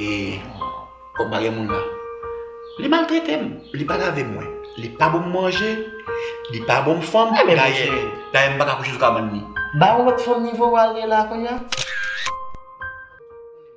E kòm pa gen moun la, li maltrete m, li pa lave mwen, li pa ban m manje, li pa ban m fanm, dayè m pa ka kouche sou kabann li. Ba yon lòt fanm nivo w ale la kounya.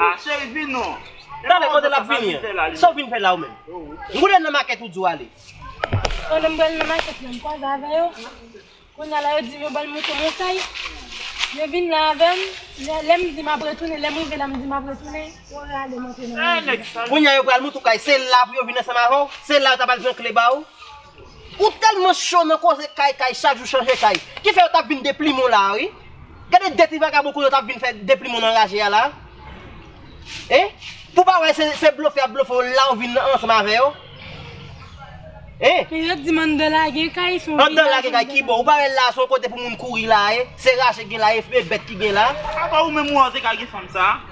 Ah cheri vin non. Talè kote lap vini an? Saw vin fè la ou menm? M konnen nan makèt ou di w ale. Oh lèm pral nan makèt la m kwaze avè yo. Kounya la yo dim yo banm mouton yon kay. Yo vin la avèm. Lèm di map retounen lèm rive la m di map retounen yo rale m antre nan machin. Kounya yo pral mouton kay se la pou yo vin ansanm avè w? Se la yo ta pral pran kle ba ou? Ou tèlman cho nan koze kay kay chak jou chanje kay ki fè yo tap vin deplimen w la a wi Gade de ti vagabon kounye w tap vin fè deplimen w anraje a la a Hein pou w pa wè se blofe yap blofe w la ou vin ansanm avè yo Hein Men yo t di m anndan la gen kay son vye Anndan la gen kay kibò ou pa wè la a son kote pou moun kouri la a ye se raje k gen la a ye bèt ki gen la a. Apa ou menm ou anze kay gen fanm sa a?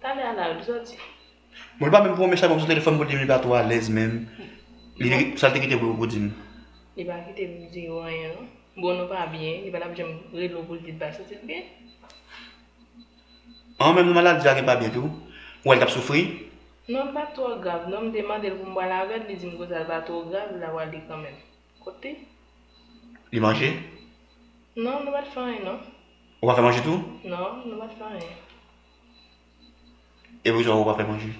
Tande anal ki soti. Bon li pa menm premye chak map sou telefòn pou dim li pa twò alèz menm sal te kite pou pou dim. Li pa kitem di yo anyen non. Bon nou pa byen li patap janm rele w poul di l pa santi l byen. An menm nan maladi a gen pa byen tou. Ou wèl tap soufri. Non li pat twò grav non m te mandel pou m pral avèl li dim konsa l pa twò grav la pral li kanmenm. Kote. Li manje? Non nou pat fè anyen non. Ou pa fè manje tou? Non, nou pa fè anyen. E poukisa ou pa fè manje?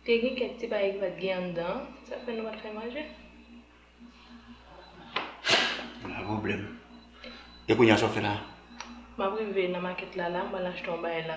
Te gen kèk ti bagay ki pa t gen anndan, sa fè nou pa t fè manje. Gen pwoblèm. E kounye a sa w ap fè la? M ap rive nan makèt la la, m pral achte yon bagay la.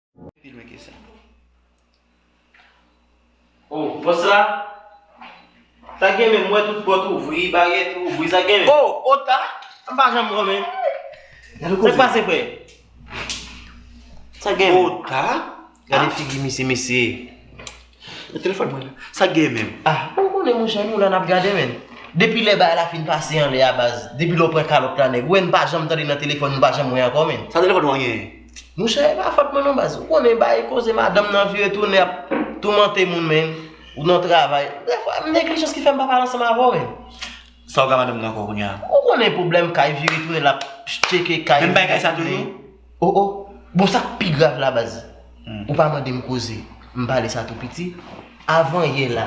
Pi lwen ke sa. Oh pòs la Ta gen men mwen tout pòt ouvri baryèt ouvri sa gen men Oh oh ta M pa janm wè men Sak pase frè Sak gen men Oh ta Gade figi misye mesye. Men telefòn mwen la. Sak gen menm? Ah ou konnen monchè nou la nap gade menn. Depi lè bagay la fin pase anlè a baz, depi lè w pran kalòt la nèg, ou wè m pa janm tande nan telefòn nou pa janm wè ankò menn. Sa telefòn ou an genyen? Monchè e pa fòt mwen non baz, ou konnen bay koze madanm nan vire tounen ap toumante moun menn, ou nan travay, dèfwa neglijans ki fè m pa pale ansanm avè w menn. Sa ou gen ak madanm nan ankò kounya? Ou konnen pwoblèm kay vire tounen lap tcheke kay. Menm bagay sa toujou? Oh oh bon sak pi grav la baz ou pa mandem koze m pale sa tou piti avan yè la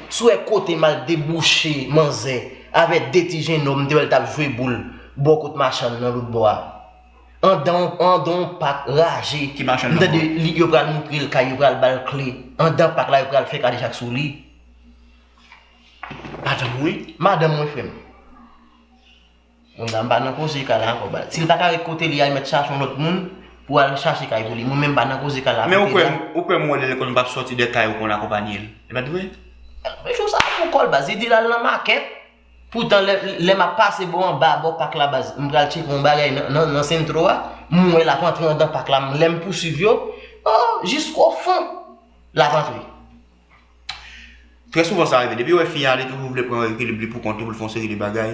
sou wè kotem al debouche manzè avè de ti jenòm m te wèl tap jwe boul bò kot machann nan lotbò a andan andan yon pak raje m tande li yo pral moutrel kay yo pral bal kle andan pak la yo pral fè kadejak sou li madanm ou wi madanm mwen frèm. Moun nan pa nan koze kay la ankò bal. Sil pa ka ret kote li a li mèt chache yon lòt moun pou al chache kay pou li. Mwen menm m pa nan koze kay la Men ou kwè m ou kwè m wè lè l konn pa sòti de kay ou konn akonpanye l. E pat vre? Men jou sa pou kòl baz li di lal nan makèt poutan lè lè map pase bò anba bò pak la baz m pral tcheke yon bagay nan nan sentro a m wè lap antre andan pak la lèm pouswiv yo oh jiskofon lap antre. Trè souvan sa rive, depiw wè fi a li toujou vle pran ekilib li pou kont li pou l fè yon seri de bagay.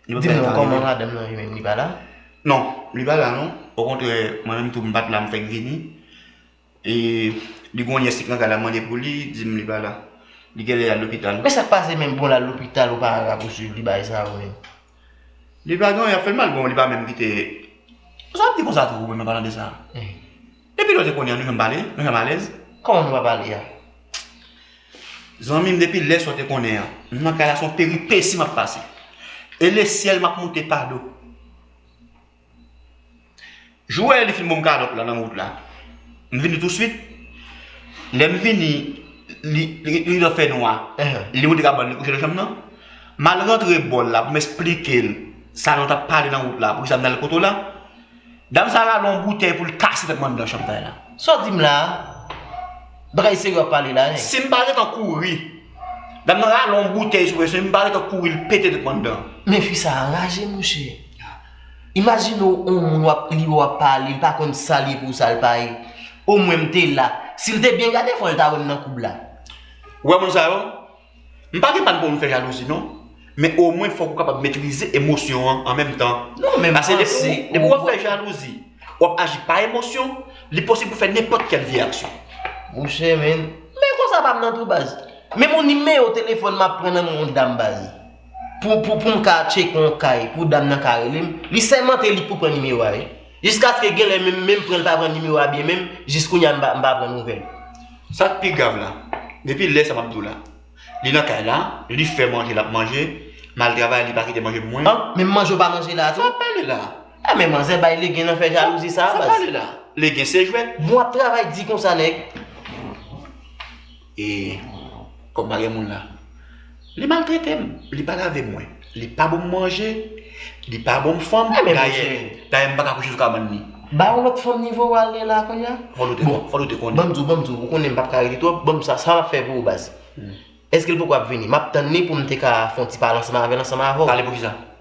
Dim non kòman madanm nan li menm li pa la? Non, li pa la non, okontrè mwen menm tou m pat la m fèk vini e li gen yon nyès li pran kay la mande pou li, dim li pa la. Li genlè al lopital. Men sak pase menm bon l al lopital ou pa al rapousuiv li bay sa ou menm? Li pa gen anyen ap fè l mal bon li pa menm kite. Sa w ap di konsa tou ou menm nan palan de sa? Depi lè te konnen an nou janm pale, nou janm alèz. Kòman nou pa pale a? Zanmim depi lè sa w te konnen an, m nan kay la se yon peripesi map pase. E lesyèl map moute pa do. Jou wè li fin banm kalòt la nan wout la, m vini touswit. Lè m vini, li rive fè nwa, li moute kabann li kouche nan chanm nan. Mal rantre bòl la pou m esplike l sa nou tap pale nan wout la, poukisa m nan al poto la. Dam sa rale yon boutèy pou l kase tèt m anndan chantay la. Sa w di m la a? Bagay serye w ap pale la a nèg. Si m pa gen tan kouri. Dam nan rale yon boutèy sou mwen si m pa gen tan kouri l pete tèt m anndan. Men fi sa a raje monchè. Imajine w yon moun w ap li w ap pale l pa konn sa l ye pou sa l pa ye. O mwen m te la. Si l te byen gade fò l ta wè m nan koub la. Ou wè moun sa yo? M pa gen pal pou m fè jalouzi non, men omwen fòk ou kapab metrize emosyon an an menm tan. Non men m panse ou Pase depi wap fè jalouzi, wap aji pa emosyon, li posib pou fè nenpòt kèl vye aksyon. Mouche men, men konsa pam nan tou baz. Men bon nimewo telefòn map pran nan men yon dam baz. Pou pou poum ka tcheke yon kay pou dam nan ka relem, li sèmante li pou pran nimewo a wi. Jiskaske genlè menm menm pranl pa pran nimewo a byen menm jis kounya m pa pran nouvèl. Sak pi grav la, depi lè sa map diw la, li nan kay la, li fè manje lap manje, mal travay li pa kite manje pou mwen. An, menm manje ou pa manje la a tou? Sa wap pale la? A men manzè bay legen nan fè jalouzi sa a baz. Sa wap pale la? Legen se jwèt? Bon wap travay di konsa nèg. E kòm pa gen moun la. Li maltrete m, li pa lave mwen, li pa banm manje, li pa banm fanm, dayè, dayè m pa ka kouche sou kabann li. Ba yon lòt fanm nivo w ale la kounya. Fòl ou te konnen, fòl ou te konnen. Banm di w, banm di w, ou konnen m pa p ka rete twòp, banm sa, sa m ap fè pou ou baz? Eske l poko ap vini? M ap tann li pou m te ka fè yon ti pale ansanm avè l, ansanm avè w. Pale pou kisa?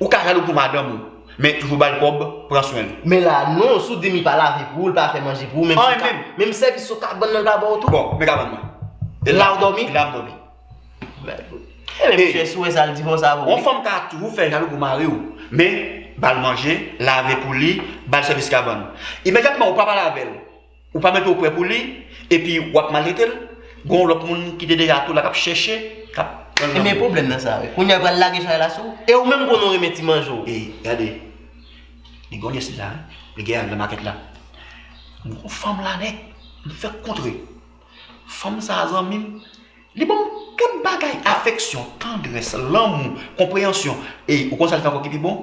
Ou ka jalou pou madanm ou men toujou bal kob pran swen l. Men la non, si w di m li pa lave pou ou, li pa fè manje pou ou, menm si ka, menm sèvis sou kabann nan li pa ba w tou? Bon, men kabann mwen. E la ou dòmi? E la m dòmi. Mèd. E men misye si w wè sa l di fò sa avè w wi. Yon fanm ka toujou fè jalou pou mari w, men bal manje, lave pou li, bal sèvis kabann. Imedyatman ou pa bal avè l. Ou pa mete w prè pou li, epi w ap maltrete l, gen yon lòt moun ki te deja tou la k ap chèche, k ap pran lanmou w. Ebyen pwoblèm nan sa wi. Kounya l pral lage chay la sou w, e ou menm konnen w renmen ti manje w. Ey, gade, li gen yon nyès li la, li gen yon nan makèt la. Mwen konn fanm la nèt, m fèk kontre. Fanm sa a zanmi m, li ban m tout bagay, afeksyon, tandrès, lanmou, konpreyansyon. Ey, ou konn sa l fè ankò ki pi bon?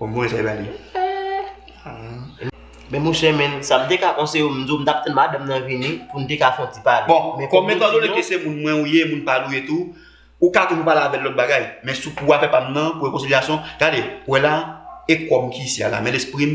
Ou voye sa e ba li. Men monchè men, sa m te ka konseye w, m di w m t ap tann madanm nan vini pou n te ka fè yon ti pale. Bon, kòm etan done ke se moun mwen ou ye, moun pa l ou ye tou, ou ka toujou pale avè l lòt bagay. Men sou pou afè pa m nan, pou rekonsilyasyon, gade, ou wè la, e kò m ki isi a la, men lespri m.